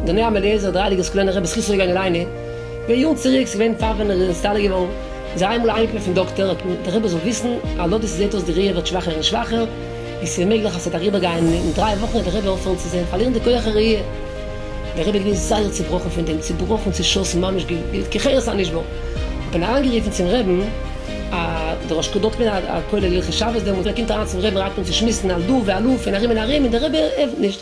דער ניו אַמעליעזער דרײַ ליגערס קליינער רבי זכותו יגן עלינו, פאר יארן צוריק איז געווען פאר ווען ער איז נסתלק געווארן, איז ער איינמאל אהיימגעקומען פון דאקטער, האט אים דער רבי זאל וויסן, הלא דאס איז זעהט אויס די ראי' ווערט שוואכער און שוואכער, ווי ס'איז מעגליך אז ס'וועט אריבער גיין און אין דריי וואכן וועט דער רבי אויפהערן צו זען, פארלירן די כח הראייה. דער רבי איז געווען זייער צובראכן פון דעם, צובראכן, צעשאסן, ממש געווען כחרס הנשבר. האט מען אריינגערופן צום רבי'ן א דער ראש כ ד האט געווען א א כולל הלכות שבת דעמאלטס, ער קומט אריין צום רבי'ן רייט אן צו שמועסן על דא ועל הא פון ארום און ארום, און דער רבי ענטפערט נישט.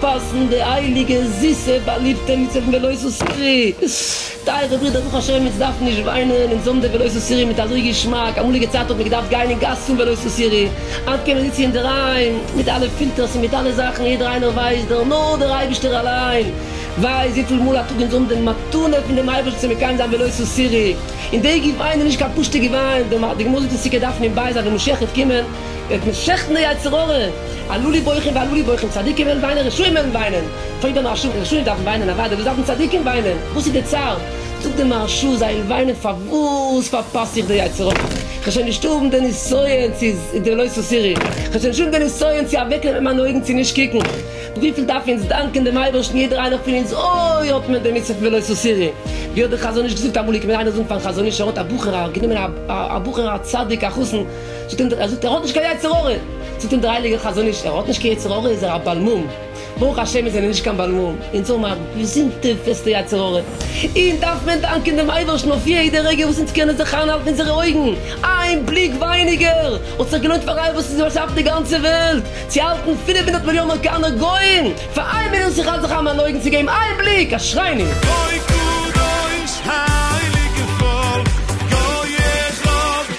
פאסן די הייליגע זיסע באליבטע מצוות פון ולא עשו סירי, טייערע ברידער ברוך השם אונז דארפן נישט וויינען אונז האבן די ולא עשו סירי מיט אזוי געשמאק, אמאליגע צייט האט מען געדארפט גיין אין גאס צום ולא עשו סירי, היינט קען מען זיצן אינדערהיים מיט אלע פילטערס און מיט אלע זאכן יעדער איינער ווייסט דער נאר דער אייבערשטער אליין ווייסט וויפיל מאל א טאג אונז האבן די מתנה פון דעם אייבערשטער צו מקיים זיין ולא עשו סירי און די געוויין איז נישט קיין פשוטע געוויין, די גמרא זאגט אין סוכה דף נ ב אז די משכת קומען. וועט מען שעכטן די יצר הרע, עלו לי בוכים ועלו לי בוכים, צדיקים וועלן וויינען, רשעים וועלן וויינען, טוב דער מהרשא, רשעים דארפן וויינען, אוודאי, וואס דארפן צדיקים וויינען, וואס איז די צער, זאגט דער מהרשא, זיי וועלן וויינען פארוואס פארפאס איך די יצר הרע, כ'זשע נישט האבן די ניסיון צו די לא תסירי, כ'זשע נישט האבן די ניסיון צו אוועק נעמען מיינע אויגן צו נישט קוקן, וויפיל דארפן אונז דאנקען דעם אייבערשטן יעדער איינער פון אונז אוי האט מען די מצוה פון ולא תסירי, ווי האט דער חזון איש געזאגט אמאל, איך קען איינער זאגן פארן חזון איש ער האט א בחור א גענומען א בחור א צדיק א חתן, ער זאגט ער האט נישט קיין יצר הרע, זאגט אים דער הייליגער חזון איש, ער האט נישט קיין יצר הרע איז ער א בעל מום, ברוך השם מיר זענען נישט קיין בעל מום, אונז האבן א געזונטע פעסטע יצר הרע, אונז דארף מען דאנקען דעם אייבערשטן אויף יעדע רגע וואס אונז קענען זיך איינהאלטן אונזערע אויגן, איין בליק ווייניגער האט זיך געלוינט פאר איינער וואס איז באשאפן די גאנצע וועלט צו האלטן פֿינף הונדערט מיליאן אמעריקאנער גוים פאר איין מינוט זיך האלט זיך איין מיין אויגן צו געבן איין בליק, אשרינו! גוי קדוש הייליגע פאלק גוי אחד.